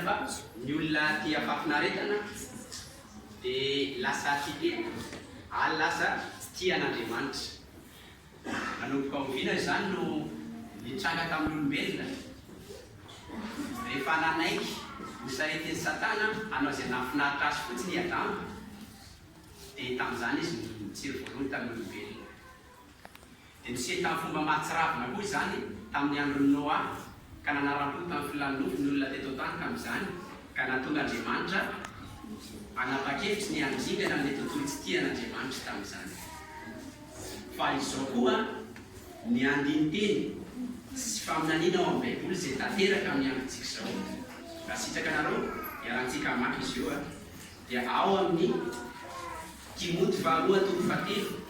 Fa ny olona tia fahafinaretana dia lasa tia tena ary lasa tia an'Andriamanitra. Nanomboka oviana izany no nitranga tamin'ny olombelona? Rehefa nanaiky ho saretin'i Satana hanao izay nahafinaritra azy fotsiny i Adama, dia tamin'izany izy no nitsiry voalohany tamin'ny olombelona. Dia niseho tamin'ny fomba mahatsiravina koa izany tamin'ny andron'i Noa, ka nanaram-po tamin'ny filàn'ny nofo ny olona teto an-tany tamin'izany, ka nahatonga Andriamanitra hanapa-kevitra ny handringana an'ilay tontolo tsy tia an'Andriamanitra tamin'izany. Fa izao koa ny andinin-teny sy faminaniana ao amin'ny Baiboly izay tanteraka amin'ny androntsika izao. Raha sitraka anareo, iarahantsika hamaky izy io, dia ao amin'ny Timoty Faharoa toko fahatelo,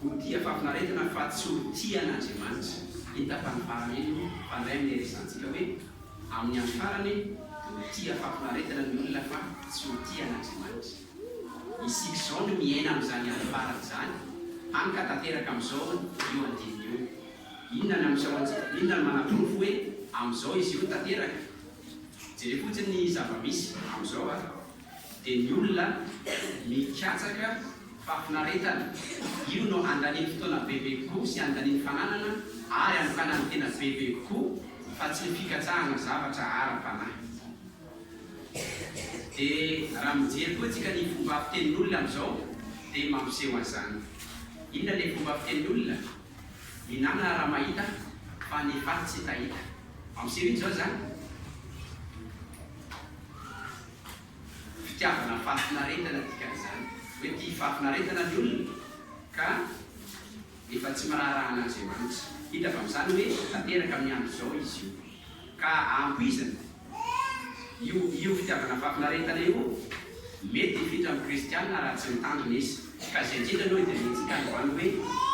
Ho tia fahafinaretana fa tsy ho tia an'Andriamanitra. Hita fa ny paramely no mpandray amin'ny resahantsika hoe, amin'ny andro farany, ho tia fahafinaretana ny olona fa tsy ho tia an'Andriamanitra. Isika izao no miaina amin'izany andro farany izany, hany ka tanteraka amin'izao io andininy io. Inona no amiseho antsika? Inona no manaporofo hoe amin'izao izy io tanteraka? Jereo fotsiny ny zava-misy amin'izao ary. dia ny olona mikatsaka fahafinaretana. Io no andaniam-potoana bebe kokoa sy andaniny fananana ary anokanany tena bebe kokoa fa tsy ny fikatsahana zavatra ara-panahy. Dia raha mijery koa tsika ny fomba fitenin'ny olona amin'izao dia mampiseho an'izany. Inona ilay fomba fitenin'ny olona? Minanana raha mahita fa ny faty tsy tahita. Mampiseho inona izao izany? fitiavana fahafinaretana dikan'izany hoe tia fahafinaretana ny olona ka efa tsy miraharaha an'Andriamanitra. Hita avy amin'izany hoe tanteraka amin'ny andro izao izy io. Ka ampoizina, io io fitiavana fahafinaretana io mety hifitra amin'ny kristiana raha tsy mitandrina izy. Ka izay indrindra aloha dia mihetsika any ho any hoe.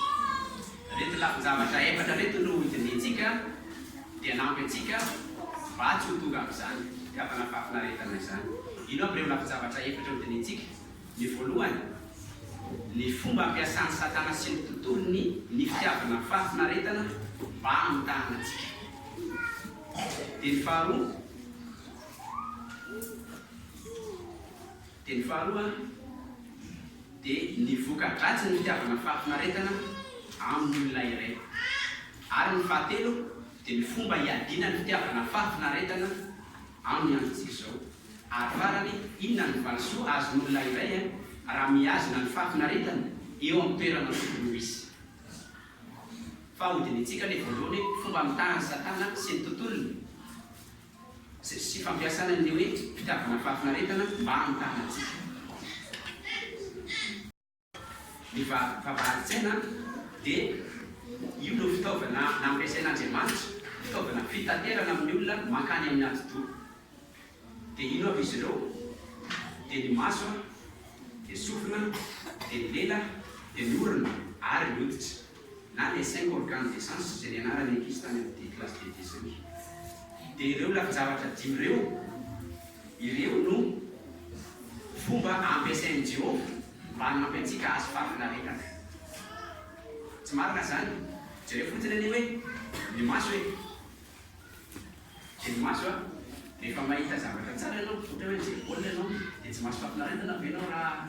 Reto lafin-javatra efatra reto no hodinihintsika dia hanampy antsika mba tsy ho tonga amin'izany fitiavana fahafinaretana izany. Ino avy ireo lafin-javatra efatra hodinihintsika? Ny voalohany, ny fomba ampiasan'i Satana sy ny tontolony ny fitiavana fahafinaretana mba hamitahana antsika. Dia ny faharoa, Dia ny faharoa dia ny voka-dratsin'ny fitiavana fahafinaretana amin'ny olona iray. Ary ny fahatelo dia ny fomba iadiana ny fitiavana fahafinaretana amin'ny androntsika izao. Ary farany, inona no valisoa azon'olona iray raha mihazona ny fahafinaretany eo amin'ny toerana tokony ho izy? Fa hodinihintsika ilay voalohany hoe fomba amitahan'i Satana sy ny tontolony. sy sy fampiasana ny hoe fitiavana fahafinaretana mba hamitahana antsika. Ny vavahadin-tsaina dia io no fitaovana nampiasain'Andriamanitra, fitaovana fitaterana amin'ny olona mankany amin'ny atidoha. Dia ino avy izy ireo? Dia ny maso, dia sofina, dia ny lela, dia ny orona ary ny hoditra. na les cinq organes de sens izay nianarany ankizy tany amin'ny dimy classe de deuxième dia ireo lafin-javatra dimy ireo ireo no fomba ampiasain'i Jehovah mba hanampy antsika hahazo fahafinaretana. Tsy marina izany? Jereo fotsiny anie hoe ny maso e! Dia ny maso a! Rehefa mahita zavatra tsara ianao, ohatra hoe mijery baolina ianao, dia tsy mahazo fahafinaretana ve ianao raha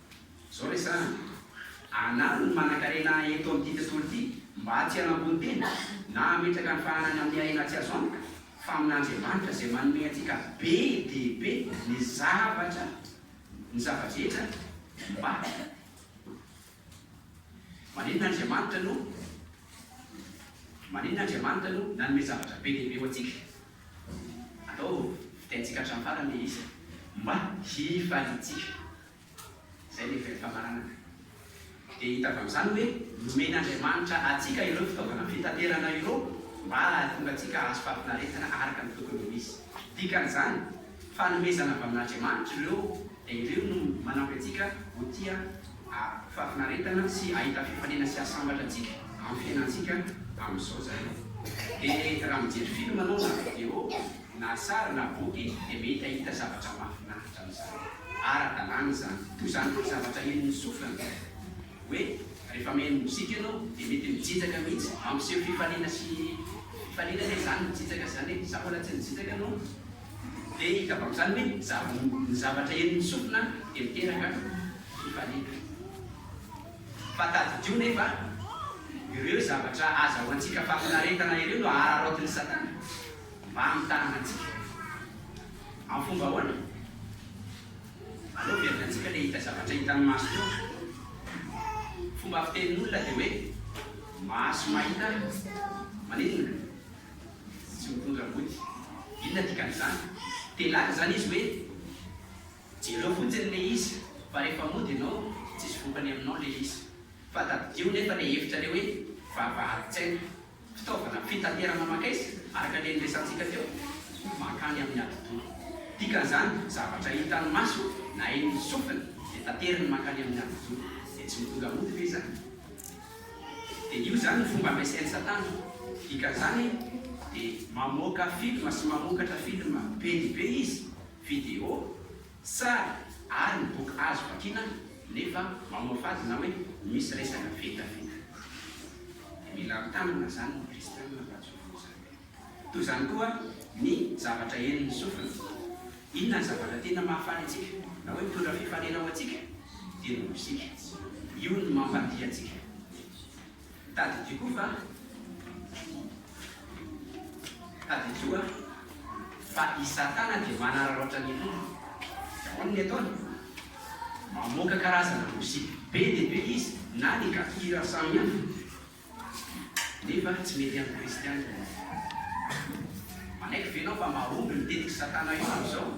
Zao re zany, anaro ny manankarena eto amin'ity tontolo ity mba tsy hanambony tena na hametraka ny fahanany amin'ny harena tsy azo antoka fa amin'Andriamanitra izay manome antsika be dia be ny zavatra ny zava-drehetra mba Maninona Andriamanitra no Maninona Andriamanitra no nanome zavatra be dia be ho antsika? Atao fitenintsika hatramin'ny farany ilay izy, mba hifaliantsika. Izay ny heviry ny famaranana. Dia hita avy amin'izany hoe nomen'Andriamanitra antsika ireo fitaovana fitaterana ireo mba hahatonga antsika hahazo fahafinaretana araka ny tokony ho izy. Dikan'izany, fanomezana avy amin'Andriamanitra ireo dia ireo no manampy antsika ho tia fahafinaretana sy hahita fifaliana sy hasambatra antsika amin'ny fiainantsika amin'izao izany. Dia raha mijery film anao na video. na sary na boky dia mety hahita zavatra mahafinaritra amin'izany. Ara-dalàna izany. Toy izany koa ny zavatra henon'ny sofina. Hoe rehefa maheno mozika ianao dia mety mijijaka mihitsy. Mampiseho fifaliana sy fifaliana anie izany mijijaka izany e! Sa mbola tsy nijijaka ianao? Dia hitako amin'izany hoe ny zava, ny zavatra henon'ny sofina dia miteraka fifaliana. Fa tadidio nefa, ireo zavatra azahoantsika fahafinaretana ireo no ahararaotin'i Satana. Mba hamitahana antsika. Amin'ny fomba ahoana? Aleo averina antsika ilay hita zavatra hitan'ny maso teo. Ny fomba fitenin'olona dia hoe, maso mahita maninona? Tsy mitondra vody. Inona dikan'izany? Te hilaza izany izy hoe, jereo fotsiny ilay izy, fa rehefa mody ianao, tsisy vokany aminao ilay izy. Fa tadidio nefa ilay hevitrareo hoe vavahadin-tsaina. Fitaovana fitaterana maka aiza? Araka ilay niresahantsika teo, mankany amin'ny atidoha. Dikan'izany, zavatra hitan'ny maso na hain'ny sofina dia tateriny mankany amin'ny atidoha. Dia tsy mitondra mody ve izany? Dia io izany no fomba ampiasain'i Satana. Dikan'izany, dia mamoaka filma sy mamokatra filma be dia be izy, video, Tsara ary ny boky azo vakiana nefa mamoafady na hoe misy resaka vita vita. Dia mila mitanana izany ny kristianina mba tsy ho voa izany. Toy izany koa ny zavatra henon'ny sofina. Inona ny zavatra tena mahafaly antsika na hoe mitondra fifanena ho antsika? Dia ny mozika. Io no mampandihy antsika. Tadidio koa fa tadidio a fa i Satana dia manararaotra ny Tompo. Ahoana ny ataony? Mamoaka karazana mozika be dia be izy na ny gafira samihafa nefa tsy mety amin'ny Kristianina izy. Manaiky ve ianao fa mahomby ny tetik'i Satana io amin'izao?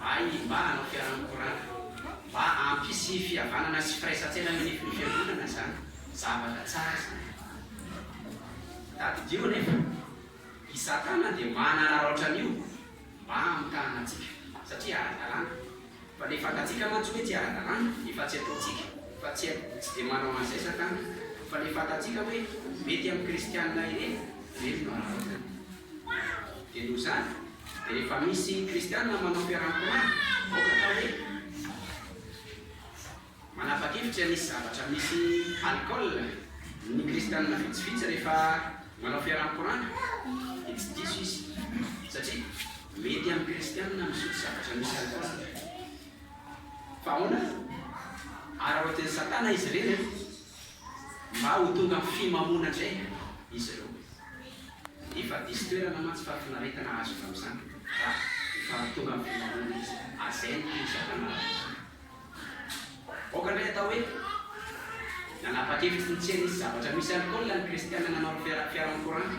Ahy mba hanao fiaraha-mikorana mba hampisy fihavanana sy firaisan-tsaina eo anivon'ny fiangonana izany, zavatra tsara izany. Tadidio anefa, i Satana dia manararaotra an'io mba hamitahana antsika, satria ara-dalàna. Fa ilay fantatsika mantsy hoe tsy ara-dalàna, efa tsy ataontsika, fa tsy tsy dia manao an'izay Satana, fa ilay fantatsika hoe mety amin'ny kristiana ireny, ireny no araraotany. Dia noho izany, dia rehefa misy kristiana manao fiaraha-mitomany, aoka atao hoe manapa-kevitra ny hisy zavatra misy alcool ny kristiana vitsivitsy rehefa manao fiaraha-mikorana, dia tsy diso izy, satria mety amin'ny kristiana misotro zavatra misy alcool. Fa ahoana? Araraotin'i Satana izy ireny an! mba ho tonga amin'ny fimamoana indray izy ireo. Efa diso toerana mantsy fahafinaretana azo avy amin'izany raha efa tonga amin'ny fimamoana izy. Azainy koa i Satana rahateo. Aoka indray hatao hoe nanapa-kevitra tsy hitsena hisy zavatra misy alkaola ny Kristiana nanao ny fiaran'ny koranta.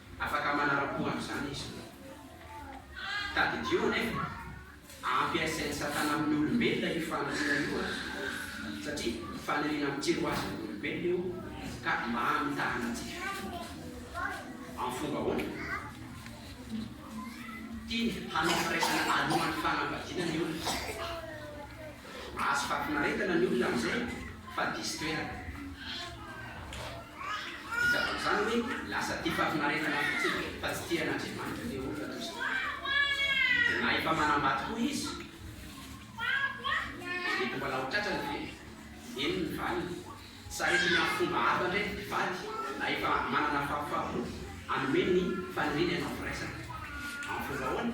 Afaka manara-po an'izany izy. Tadidio anefa, ampiasain'i Satana amin'ny olombelona io faniriana io, satria faniriana mitsiry ho azy amin'ny olombelona io ka mba hamitahana tsy vita. Amin'ny fomba ahoana? Tiany hanao firaisana alohan'ny fanambadiana ny olona. Mahazo fahafinaretana ny olona amin'izay fa diso toerana. Vita tamin'izany ny lasa tia fahafinaretana fotsiny fa tsy tia an'Andriamanitra ilay olona toy izany. Dia na efa manambady koa izy, dia mety mbola ho tratrany ve? Eny ny valiny. Saritiny amin'ny fomba hafa indray ny mpivady na efa manana fahafaham-po hanome ny faniriany hanao firaisana. Amin'ny fomba ahoana?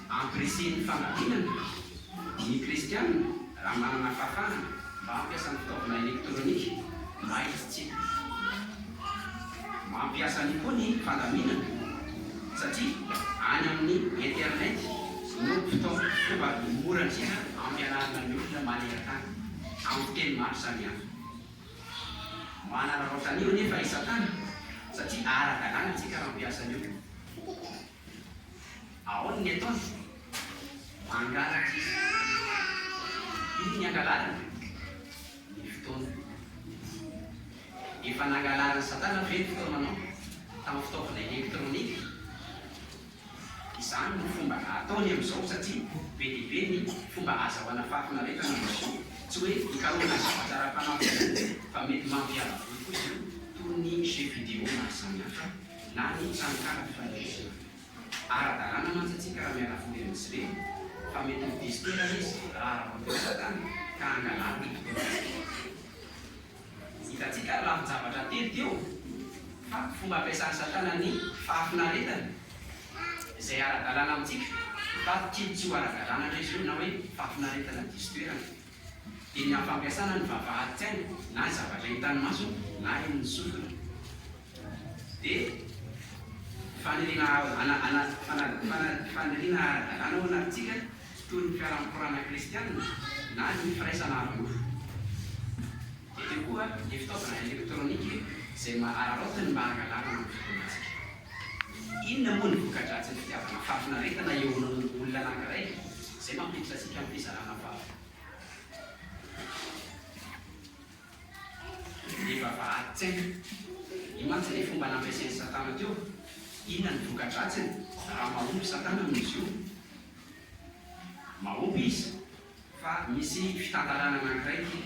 Ampirisihiny fanadinana ny Kristianina raha manana fahafahana mba hampiasa ny fitaovana elektronika mba hisitrika. Mampiasa an'io koa ny fandaminana satria any amin'ny Internet no fitaovana fomba mora indrindra hampianarana ny olona maneran-tany amin'ny fiteny maro samihafa. Manararaotra an'io anefa i Satana satria ara-dalàna isika raha mampiasa an'io. Aona ny ataony? Mangalatra izy. Iny ny angalarany? Ny fotoana. Efa nangalarin'i Satana ve ny fotoananao tamin'ny fitaovana elektronika? Izany no fomba ataony amin'izao satria be dia be ny fomba azahoana fahafinaretana amin'ny machine. Tsy hoe hikarohana zavatra ara-panahy fotsiny fa mety mampiala voly koa izany toy ny jeux vidéo maro samihafa. na ny tranokala fifandraisana. Ara-dalàna mantsy antsika raha miara-vory amin'izy ireny fa mety ho diso toerana izy raha ara-bola sahadana ka hangalana ny fotoanantsika. Hitantsika ary lafin-javatra telo teo fa fomba ampiasan'i Satana ny fahafinaretana izay ara-dalàna amintsika fa tily tsy ho ara-dalàna indray izao na hoe fahafinaretana diso toerana. dia ny hampampiasana ny vavahadin-tsainy na ny zavatra hitan'ny masony na henon'ny sofiny, dia faniriana faniriana ara-dalàna ho an'aritsika toy ny fiaraha-mikorana kristiana na ny firaisana ara-nofo. Dia teo koa ny fitaovana elektronika izay araraotiny mba hangalarana ny fotoanantsika. Inona moa ny voka-dratsin'ny fitiavana fahafinaretana eo amin'ny olona anankiray izay mampiditra antsika amin'ny fizarana vava? Ny vavahadin-tsaina. Io mantsy ilay fomba nampiasain'i Satana teo. Inona ny voka-dratsiny raha mahomby Satana amin'izy io? Mahomby izy fa misy fitantarana anankiray ty.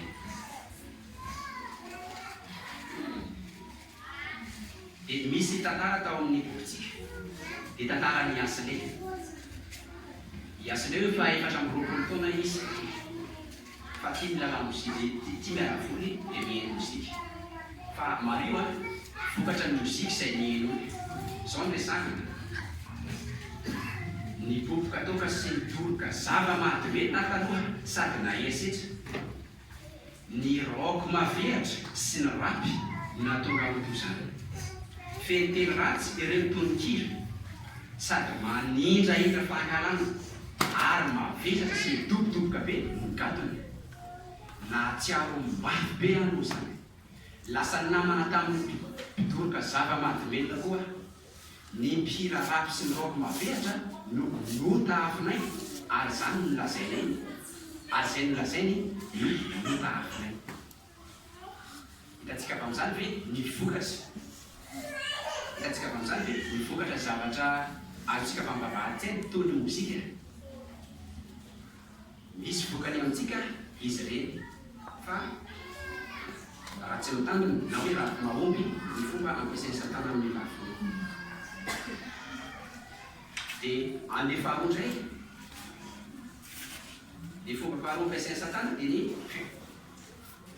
Dia misy tantara tao amin'ny bokintsika. Dia tantaran'i Yasle. I Yasle hoe efa efatra amby roapolo taona izy fa tia ny lalamozika, tia miara-voly dia mihaino mozika. Fa Mario a! Vokatra ny moziky izay niheno io. Izao no resahina. Ny boboka toaka sy ny toroka. Zava-mahadomelina taloha sady nahery setra. Ny rock maveritra sy ny rap nahatonga an'toy izany. Feno teny ratsy ireo ny tononkira. Sady manindrahindra fahankalana ary mavesatra sy midobodoboka be ny gadona. Nahatsiaro mafy be aho izany. Lasa namana tamin'ny mpidoroka zava-mahadomelina koa aho. Ny mpihira rap sy ny rock mavehatra no notahafinay ary izany no nolazainay ary izay nolazainy no notahafinay. Hitantsika avy amin'izany ve ny vokatra? Hitantsika avy amin'izany ve ny vokatra zavatra azontsika avy amin'ny vavahady teny toy ny mozika? Misy vokany amintsika izy ireny fa raha tsy ny tandrony na hoe raha mahomby ny fomba ampiasain'i Satana amin'ny lafiny dia andeha faharoa indray. Ny fomba faharoa ampiasain'i Satana dia ny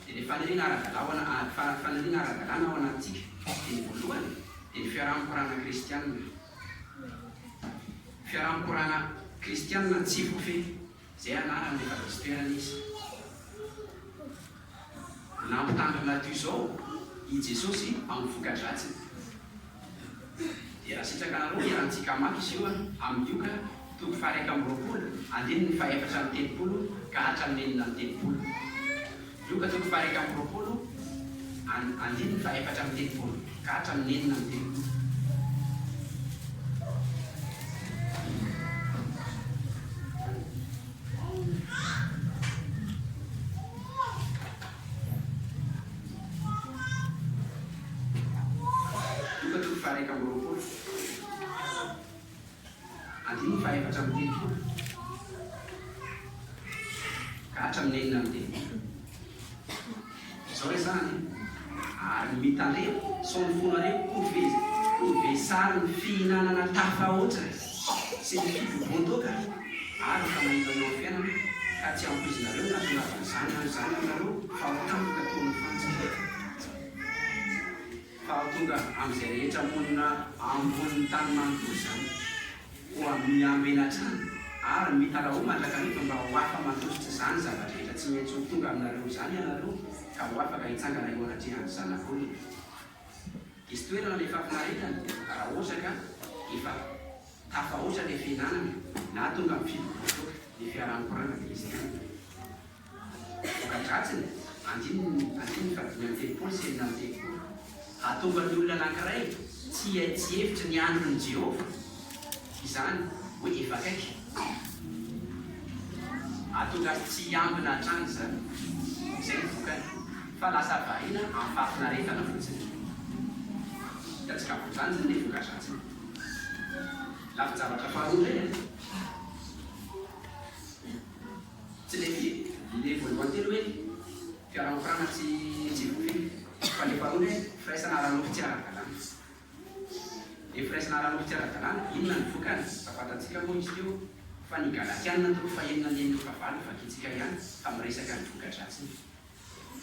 dia ilay faniriana ara-dalàna faniriana ara-dalàna ao anatintsika dia ny voalohany dia ny fiaraha-mikorana kristiana. Fiaraha-mikorana kristianina tsy voafehy, izay anarany efa nisy toerana izy. Nampitandrina toy izao i Jesosy amin'ny voka-dratsiny, dia raha sitraka anareo, iarahantsika hamaky izy io amin'ny Lioka toko faha-iraika amby roapolo, andininy faha-efatra amby telopolo ka hatramin'ny enina amby telopolo. Lioka toko faha-iraika amby roapolo and andininy faha-efatra amby telopolo ka hatramin'ny enina amby telopolo. Lioka toko faha-iraika amby roapolo. Andininy fahaefatra amby telopolo ka hatramin'ny enina amby telopolo. Izao re izany e! Ary ny mitan'ireo sao ny fonareo kove kove sarin'ny fihinanana tafahoatra sy ny fibobohan-toaka ary efa nahita eo amin'ny fiainana ka tsy ampoizinareo ny hahatongavan'izany andro izany aminareo fa ho tampoka toy ny fantsika. Hahatonga an'izay rehetra monina ambonin'ny tany manontolo izany koa mihambo ela hatrany, ary mitaraoa mandrakariva mba ho afa-mandositra izany zava-drehetra tsy mety ho tonga aminareo izany ianareo, ka ho afaka hitsangana eo anatrehan'ny Zanak'olona. Hisy toerana ilay fahafinaretana, raha ohatra ka efa tafahoatra ilay fihinanana, na tonga amin'ny fivovoan-toaka ny fiaraha-mikorana dia izay ihany. Voka-dratsiny, andininy andininy ka dimy amby telopolo sy enina amby telopolo, hahatonga ny olona anankiray tsy hihay tsy hevitra ny andron'i Jehovah izany, hoe efa akaiky. Hahatonga azy tsy hiambina hatrany izany. Izay ny vokany, fa lasa variana amim-pahafinaretana fotsiny. Hitantsika ampondranjiny ny voka-dratsiny. Lafin-javatra faharoa indray an! Tsy le vy, le voalohany teny hoe fiaraha-mikorana tsy tsy voafehy, fa le faharoa hoe firaisana ara-nofo tsy ara-dalàna. Le firaisana ara-nofo tsy ara-dalàna, inona ny vokany? Fa fantatsika moa izy teo fa ny Galatiana toko fahenina andininy fahavalo no vakintsika ihany fa miresaka ny voka-dratsiny.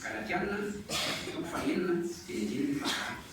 Galatiana toko fahenina, teny andininy fahavalo.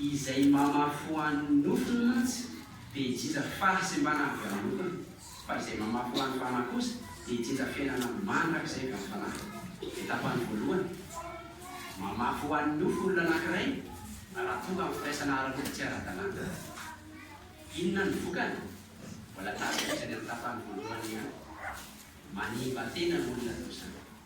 Izay mamafy ho an'ny nofony mantsy dia hijinja fahasimbana avy amin'ny lokony, fa izay mamafy ho an'ny fanahy kosa dia hijinja fiainana mandrakizay avy amin'ny fanahy. Dia tapany voalohany, Mamafy ho an'ny nofo olona anankiray raha tonga amin'ny firaisana ara-nofo tsy ara-dalàna. Inona no vokany? Mbola tafiditra any amin'ny tapany voalohany ihany, manimba tena ny olona toa izany.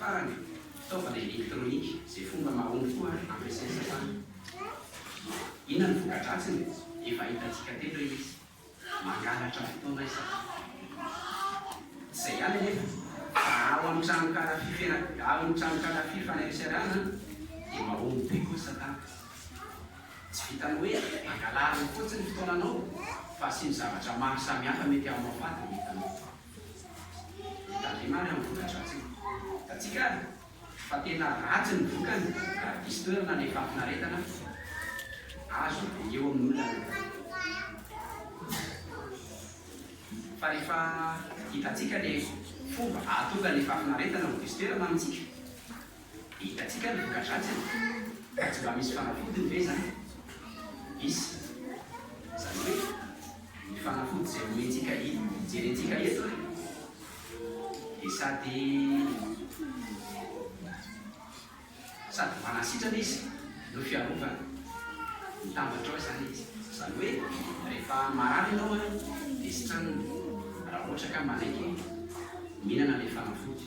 Farany, fitaovana elektronika izay fomba mahomby koa ary ampiasain'ny sasany. Inona ny voka-dratsiny? Efa hitantsika teto hoe izy mangalatra fotoana isika. Izay ihany anefa, raha ao amin'ny tranonkala fifena, amin'ny tranonkala fifaneraserana, dia mahomby be koa Satana. Tsy vitan'ny hoe angalariny fotsiny ny fotoananao, fa asiany zavatra maro samihafa mety hamoafaty ny entanao. Mitandrema any amin'ny voka-dratsiny. Hitantsika ary fa tena ratsy ny vokany raha diso toerana ilay fahafinaretana azo avy eo amin'ny olona anankiray. Fa rehefa hitantsika ilay fomba hahatonga ilay fahafinaretana ho diso toerana amintsika, Hitantsika ny voka-dratsiny raha tsy mba misy fanafodiny ve izany? Misy. Izany hoe ny fanafody izay omentsika inona jerentsika eto e? Dia sady sady manasitrana izy no fiarovana. Mitambatra ao izany izy. Izany hoe rehefa marary ianao an, dia sitranina raha ohatra ka manaiky mihinana ilay fanafody.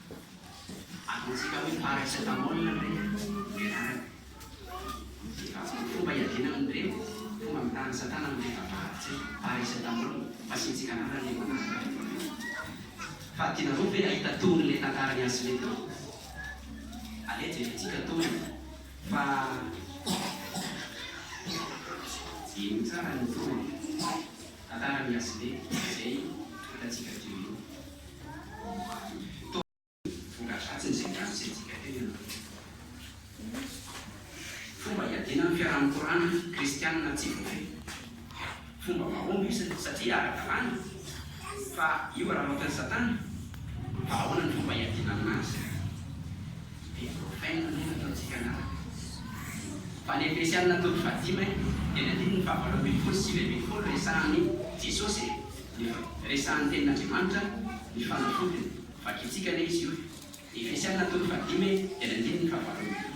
Ataontsika hoe paracetamol indray ny anarany. Fomba iadiana amin'ireny fomba amitahan'ny satana amin'ny fivavahan-tsy paracetamol. Fasiantsika anarana io anarana rehefa avy eo. Fa tianareo ve hahita tohin'ilay tantaran'i Ashley teo? Aleha jerentsika tohiny fa ino tsara ny tohiny. Tantara ny Asley izay hitantsika teo io. Toa vongan-dratsiny izay niandry tsy haintsika teo ianareo. Fomba hiadiana amin'ny fiaraha-mikorana kristianina tsy voafehy. Fomba mahomby io satria ara-dalàna. Fa io araraotin'i Satana. Fa ahoana ny fomba hiadiana aminazy? Dia voafaina ny fanaontsika anarana. Tany Efesiana toko fahadimy e, teny andininy fahavalo ambin'ny folo sy sivy ambin'ny folo resahan'i Jesosy e, ny resahan'ny tenin'Andriamanitra ny fanafodiny, vakintsika anie izy io e. Efesiana toko fahadimy e, teny andininy fahavalo ambin'ny folo.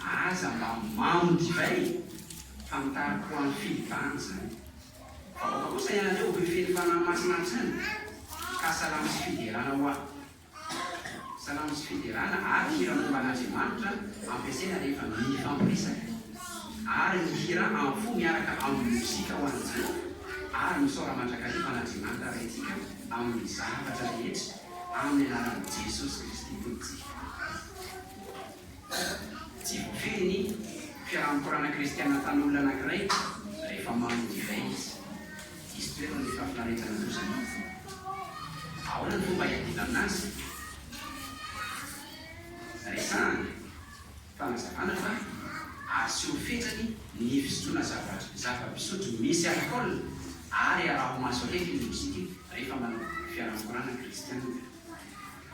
Aza mba mamo divay e! Fantaro koa any Filipana zany. Vahoaka kosa ianareo hoy feno fanahy masina hatrany ka salamo sy fiderana hoa. Salamo sy fiderana ary hira momba an'Andriamanitra ampiasaina rehefa mifampiresaka. Ary ny hira am fo miaraka aminy mozika ho an'i Jehovah ary misaora mandrakariva an'Andriamanitra Ray ntsika amin'ny zavatra rehetra amin'ny anaran'i Jesosy Kristy Tompontsika. Tsy voafidy ny fiaraha-mikorana kristiana tanin'olona anankiray rehefa manome divay izy. Hisy toerana ny fahafinaretana toy izany. Ahoana ny fomba hiadiana aminazy? Resahana. Fanazavana fa asio fetrany ny fisotroana zava-pisotro misy alkaola ary araho maso akaiky ny mozika rehefa manao fiaraha-mikorana kristiana.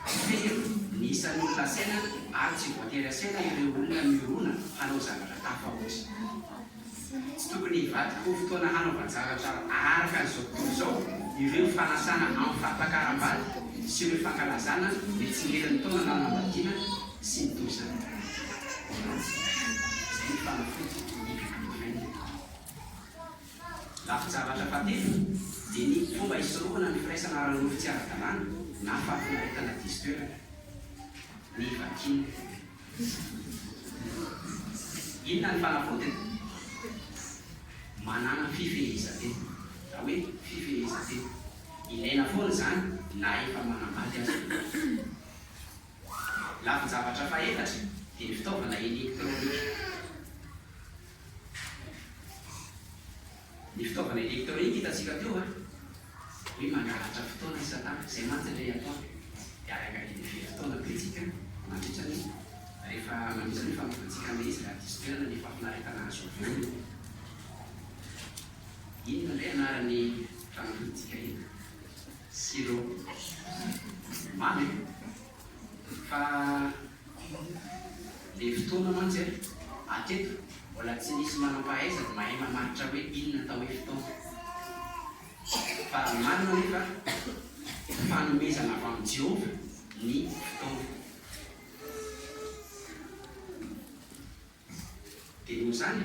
Tsy fehero ny isan'ny olona asehina ary tsy voatery asehina ireo olona mirona hanao zavatra tafahoatra. Tsy tokony hivadika ho fotoana hanaovan-javatra araka izao tontolo izao ireo fanasana amin'ny fampakaram-bady sy ireo fankalazana ny tsingerin'ny taona na anambadiana sy ny toy izany. Izay no fanafody ny Advent. Lafin-javatra fahatelo dia ny fomba hisorohana ny firaisana ara-nofo tsy ara-dalàna na fahafinaretana diso toerana. Ny vakin. Inona ny fanavotany? Manàna fifehezan-tena. Na hoe fifehezan-tena. Ilaina foana izany na efa manambady aza ianao. Lafin-javatra fahaefatra dia ny fitaovana elektronika. Ny fitaovana elektronika hitantsika teo an! Hoe mangalatra fotoana i Satana, izay mantsy ilay ataony. Dia araka ny herintaona ataontsika mandritra ny rehefa manohitra ny fanompoantsika an'ilay izy, raha diso toerana ny fahafinaretana azo avy aminy. Inona indray anaran'ny fanompoantsika iny? Silo. Mamy e! Fa le fotoana mantsy an, hatreto mbola tsy nisy manam-pahaizana mahay mamaritra hoe inona atao hoe fotoana. Fa marina anefa fa fanomezana avy amin'i Jehovah ny fotoana. Dia noho izany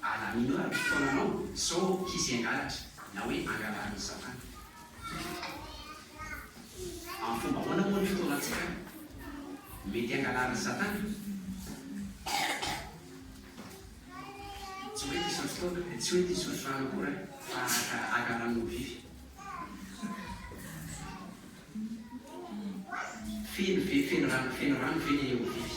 Allah mino ary mpitaona anao sao hisy hangalatra na hoe angalarin'i Satana. Amin'ny fomba ahoana moa ny fitaonan-tsika no mety hangalarin'i Satana? Tsy hoe diso ny fitaovana, dia tsy hoe diso ny filàna koa raha fa araka agaran'ny olon-vivy. Feno ve, feno rano, feno rano ve ny olon-vivy?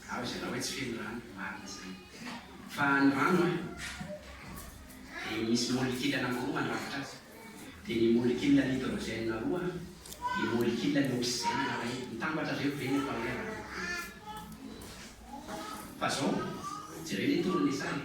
Zaho izay raha hoe tsy feno rano, marina izany. Fa ny rano an, dia misy molecule anankiroa mandrafitra azy. Dia ny molecule hydrogène roa, ny molecule ny oxygène iray. Mitambatra ireo ve ny atao hoe rano? Fa izao, jereo ny tory ny sary.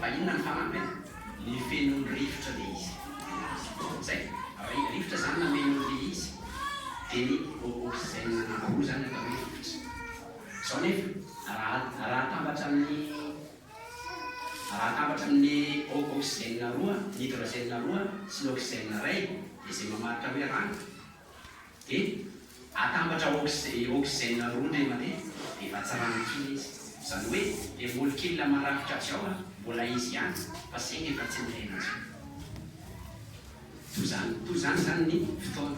Fa inona ny farany ve? Ny fenon'ny rivotra le izy. Zay. Ri, rivotra zany nameno an'le izy. De ny o, oxygène nambaroa zany atao hoe rivotra. Zao nefa, raha, raha atambatra amin'ny, raha atambatra amin'ny o, oxygène roa, ny hydrogène roa sy ny oxygène ray, de zay mamaritra hoe rano. Dia atambatra oxygène roa indray mandeha dia efa tsy rano kila izy. Izany hoe ilay molecule marafitra avy ao mbola izy ihany fa saingy efa tsy miaina intsony. Toa izany, toa izany izany ny fotoana.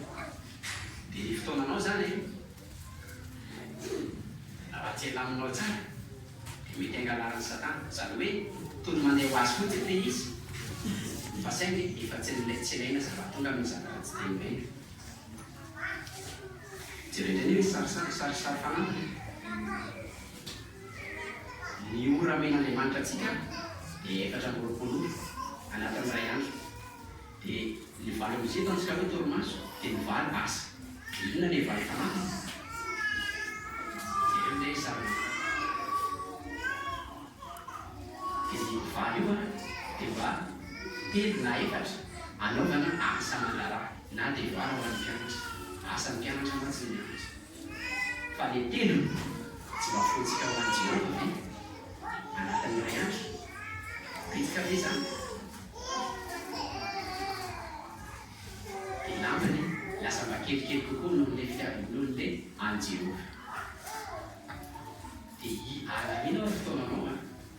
Dia ny fotoananao izany e! Raha tsy alaminao tsara dia mety angalarin'i Satana. Izany hoe toa ny mandeha ho azy fotsiny ilay izy fa saingy efa tsy tsy ilaina zava-tonga noho ny zava-ratsy dia ilaina. Jereo indray ny sarisary kisarisary fanampiny. Ny ora amen'Andriamanitra antsika dia efatra amby roapolo ora anatin'ny iray andro. Dia ny valo amby zato antsika hoe torimaso dia ny valo asa. Dia inona ilay valo fanampiny? Jereo indray io sariny io. Dia ny valo io dia mba telo na efatra anaovana asa aman-draharaha. Na devoara ho an'ny mpianatra. Asan'ny mpianatra mantsy ny mianatra. Fa ilay teniny, tsy mba fointsika ho an'i Jehovah ve? Anatin'ny iray andro? Bitika ve izany? Dia lany anie, lasa mba kelikely kokoa noho ilay fitiavan'olona e, an'i Jehovah. Dia hiala aina ao ny fotoananao an!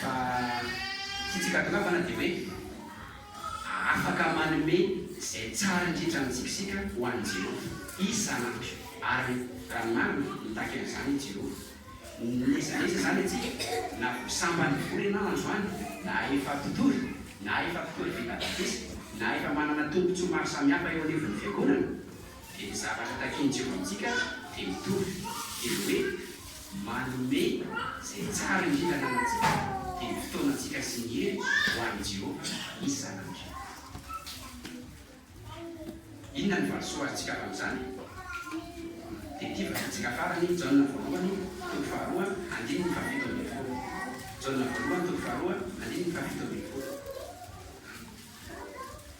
Fa tsy tsy gadona fa na dia hoe afaka manome izay tsara indrindra amintsika isika ho an'i Jehovah. Izy Zanak'io. Ary raha marina, mitaky an'izany i Jehovah. N'aiza n'aiza izany antsika, na vao sambany mivory ianao androany, na efa mpitory, na efa mpitory vita batisa, na efa manana tombontsoa maro samihafa eo anivon'ny fiangonana, dia ny zavatra takin'i Jehovah amintsika dia mitovy. Dia ny hoe. Manome izay tsara indrindra ananantsika dia ny fotoanantsika sy ny hery ho an'i Jehovah isan'andro. Inona ny valisoa azontsika avy amin'izany? Tety vazantsika farany, Jaona voalohany, toko faharoa, andininy fahafito ambin'ny folo. Jaona voalohany, toko faharoa, andininy fahafito ambin'ny folo.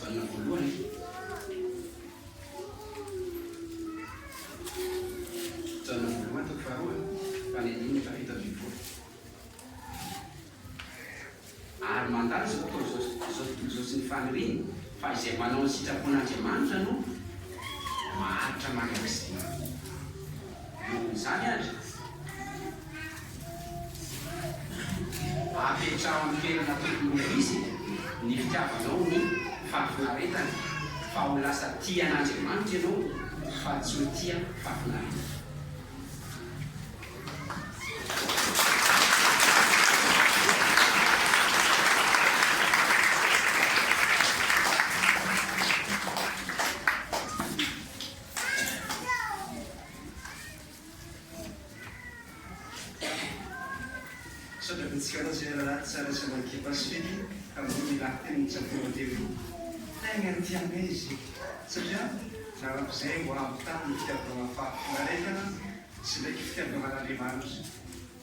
Valina voalohany. Valina voalohany toko faharoa, tany andininy efa fito ambin'ny folo. Ary mandalo izao tontolo izao sy izao tontolo izao sy ny faniriany fa izay manao ny sitrapon'Andriamanitra no maharitra mandrakizay. Noho izany ary. Apetraho amin'ny toerana tokony ho izy ny fitiavanao ny fahafinaretana, fa ho lasa tia an'Andriamanitra ianao fa tsy ho tia fahafinaretana. Misaotra betsaka anao Zay raharaha tsara sy anao ekipa sy Fedy tamboho ny lahateny notsapainao teto. Tegna ny tianay izy io satria narak'izay ho avy tamin'ny fitiavana fahafinareta sy ndraiky fitiavana an'Andriamanitra.